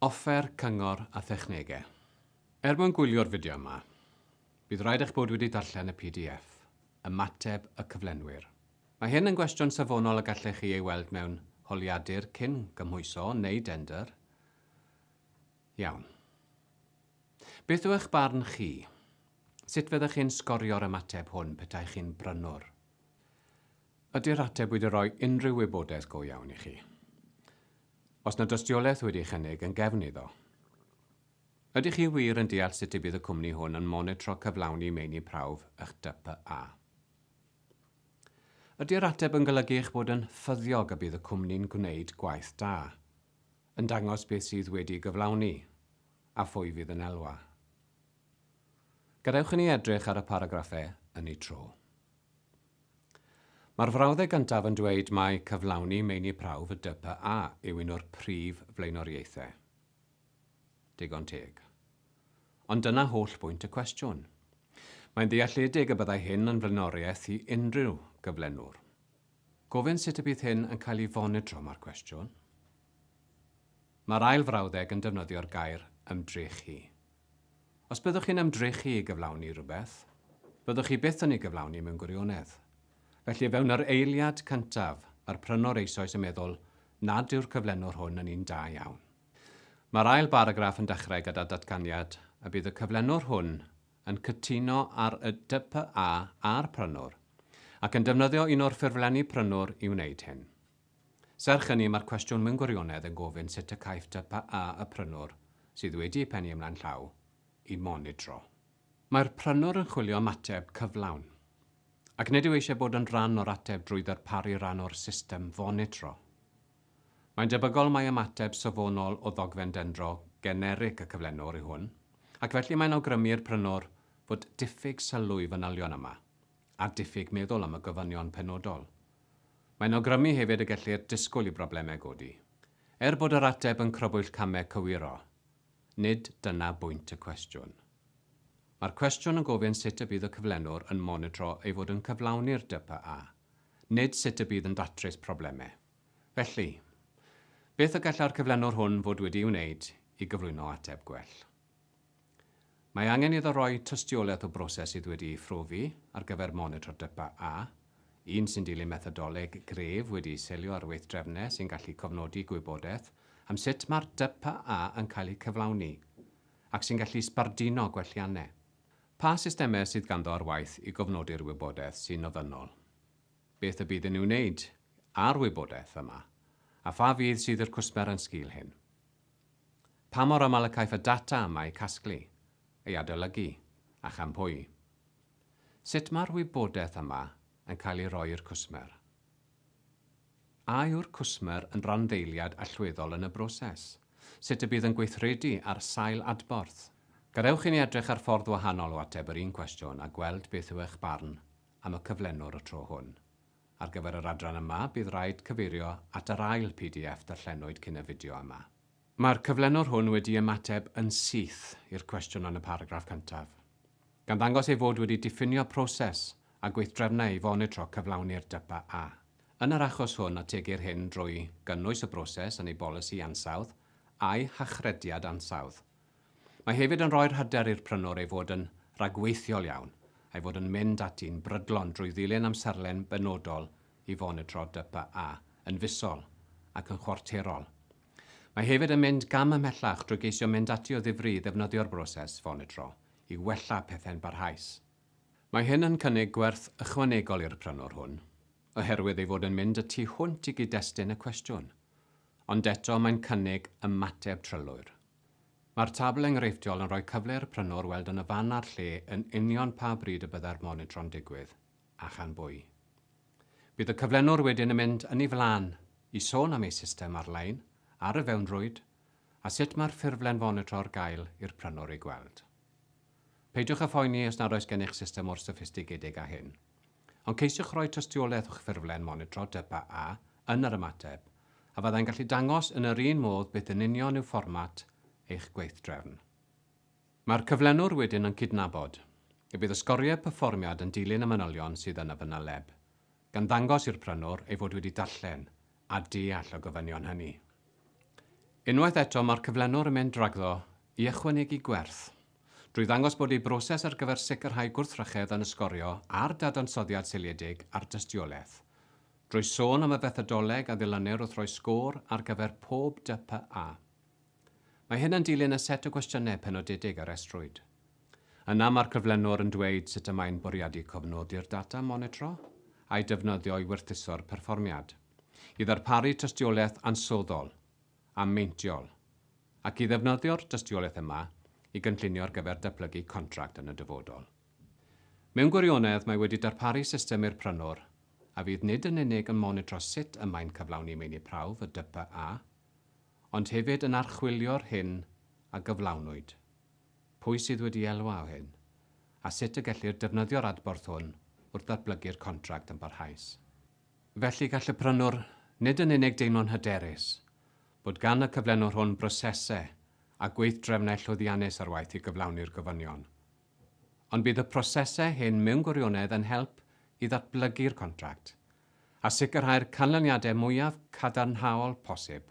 Offer cyngor a thechnegau. Er mwyn gwylio'r fideo yma, bydd rhaid eich bod wedi darllen y pdf, Ymateb y Cyflenwyr. Mae hyn yn gwestiwn safonol y gallech chi ei weld mewn holiadur cyn gymhwyso neu dendr. Iawn. Beth yw eich barn chi? Sut fyddech chi'n sgorio'r ymateb hwn petaech chi'n brynwr? Ydy'r ateb wedi rhoi unrhyw wybodaeth go iawn i chi? Oes 'na dystiolaeth wedi'i chynnig yn gefn iddo? Ydych chi wir yn deall sut y bydd y cwmni hwn yn monitro cyflawni meini prawf eich DPA? Ydy'r ateb yn golygu eich bod yn ffyddiog y bydd y cwmni'n gwneud gwaith da, yn dangos beth sydd wedi gyflawni, a phwy fydd yn elwa? Gadewch i ni edrych ar y paragraffau yn eu tro. Mae'r frawddeg gyntaf yn dweud mai cyflawni meini prawf y DPA yw un o'r prif flaenoriaethau. Digon teg. Ond dyna holl bwynt y cwestiwn. Mae'n ddealledig y byddai hyn yn flaenoriaeth i unrhyw gyflenwr. Gofyn sut y bydd hyn yn cael ei fonitro mae'r cwestiwn. Mae'r ail frawddeg yn defnyddio'r gair ymdrechu. Os byddwch chi'n ymdrechu i gyflawni rhywbeth, byddwch chi byth yn ei gyflawni mewn gwirionedd. Felly o fewn yr eiliad cyntaf, mae'r prynwr eisoes yn meddwl nad yw'r cyflenwr hwn yn un da iawn. Mae'r ail baragraff yn dechrau gyda datganiad y bydd y cyflenwr hwn yn cytuno ar y DPA a'r prynwr, ac yn defnyddio un o'r ffurflenni prynwr i wneud hyn. Serch hynny, mae'r cwestiwn mewn gwirionedd yn gofyn sut y caiff DPA y prynwr, sydd wedi ei phennu ymlaen llaw, i fonitro. Mae'r prynwr yn chwilio am ateb cyflawn, ac nid yw eisiau bod yn rhan o'r ateb drwy ddarparu rhan o'r system fonitro. Mae'n debygol mai ymateb safonol o ddogfen dendro generig y cyflenwr yw hwn, ac felly mae'n awgrymu i'r prynwr fod diffyg sylw i fanylion yma, a diffyg meddwl am y gofynion penodol. Mae'n awgrymu hefyd y gellir disgwyl i broblemau godi, er bod yr ateb yn crybwyll camau cywiro. Nid dyna bwynt y cwestiwn. Mae'r cwestiwn yn gofyn sut y bydd y cyflenwr yn monitro ei fod yn cyflawni'r DPA, nid sut y bydd yn datrys problemau. Felly, beth y gallai'r cyflenwr hwn fod wedi'i wneud i gyflwyno ateb gwell? Mae angen iddo roi tystiolaeth o broses sydd wedi ei phrofi ar gyfer monitro DYPA A, un sy'n dilyn methodoleg gref wedi'i selio ar weithdrefnau sy'n gallu cofnodi gwybodaeth am sut mae'r DYPA A yn cael eu cyflawni ac sy'n gallu sbarduno gwelliannau. Pa systemau sydd ganddo ar waith i gofnodi'r wybodaeth sy'n ofynnol? Beth y bydd yn ei wneud â'r wybodaeth yma? A pha fudd sydd i'r cwsmer yn sgil hyn? Pa mor aml y caiff y data yma ei casglu, ei adolygu, ac am pwy? Sut mae'r wybodaeth yma yn cael ei roi i'r cwsmer? A yw'r cwsmer yn randdeiliad allweddol yn y broses? Sut y bydd yn gweithredu ar sail adborth? Gadewch i ni edrych ar ffordd wahanol o ateb yr un cwestiwn a gweld beth yw eich barn am y cyflenwr y tro hwn. Ar gyfer yr adran yma, bydd raid cyfeirio at yr ail pdf darllenwyd cyn y fideo yma. Mae'r cyflenwr hwn wedi ymateb yn syth i'r cwestiwn yn y paragraff cyntaf, gan ddangos ei fod wedi diffinio proses a gweithdrefnau i fonitro cyflawni'r DYPA A. Yn yr achos hwn, ategir hyn drwy gynnwys y broses yn ei bolisi ansawdd a'i hachrediad ansawdd, Mae hefyd yn rhoi'r hyder i'r prynwr ei fod yn ragweithiol iawn, a'i fod yn mynd ati'n brydlon drwy ddilyn amserlen benodol i fonitro DPA yn fisol ac yn chwarterol. Mae hefyd yn mynd gam ymhellach drwy geisio mynd ati o ddifri i ddefnyddio'r broses fonitro i wella pethau'n barhaus. Mae hyn yn cynnig gwerth ychwanegol i'r prynwr hwn, oherwydd ei fod yn mynd y tu hwnt i gyd-destun y cwestiwn, ond eto mae'n cynnig ymateb trylwyr. Mae'r tabl enghreifftiol yn rhoi cyfle i'r prynwr weld yn y fan a'r lle yn union pa bryd y byddai'r monitro'n digwydd, a chan bwy. Bydd y cyflenwr wedyn yn mynd yn ei flaen i sôn am ei system ar-lein ar y fewnrwyd a sut mae'r ffurflen fonitro ar gael i'r prynwr ei gweld. Peidiwch â phoeni os nad oes gennych system mor soffistigedig â hyn. Ond ceisiwch roi tystiolaeth o'ch ffurflen monitro Depa A yn yr ymateb, a fyddai'n gallu dangos yn yr un modd beth yn union yw fformat eich gweithdrefn. Mae'r cyflenwr wedyn yn cydnabod y bydd y sgoriau perfformiad yn dilyn y manylion sydd yn y fanyleb, gan ddangos i'r prynwr ei fod wedi darllen a deall y gofynion hynny. Unwaith eto, mae'r cyflenwr yn mynd rhagddo i ychwanegu gwerth, drwy ddangos bod ei broses ar gyfer sicrhau gwrthrychedd yn ysgorio ar dadansoddiad seiliedig ar dystiolaeth, drwy sôn am y fethodoleg a ddilynir wrth roi sgôr ar gyfer pob DPA. Mae hyn yn dilyn y set o gwestiynau penodedig a restrwyd. Yna mae'r cyflenwr yn dweud sut y mae'n bwriadu cofnodi'r data monitro a'i defnyddio i werthuso'r perfformiad, i ddarparu tystiolaeth ansoddol a meintiol, ac i ddefnyddio'r dystiolaeth yma i gynllunio ar gyfer datblygu contract yn y dyfodol. Mewn gwirionedd, mae wedi darparu system i'r prynwr a fydd nid yn unig yn monitro sut y mae'n cyflawni meini prawf y DPA, ond hefyd yn archwilio'r hyn a gyflawnwyd, pwy sydd wedi elwa o hyn, a sut y gellir defnyddio'r adborth hwn wrth ddatblygu'r contract yn barhaus. Felly, gall y prynwr nid yn unig deimlo'n hyderus bod gan y cyflenwr hwn brosesau a gweithdrefnau llwyddiannus ar waith i gyflawni'r gofynion, ond bydd y prosesau hyn mewn gwirionedd yn help i ddatblygu'r contract a sicrhau'r canlyniadau mwyaf cadarnhaol posib.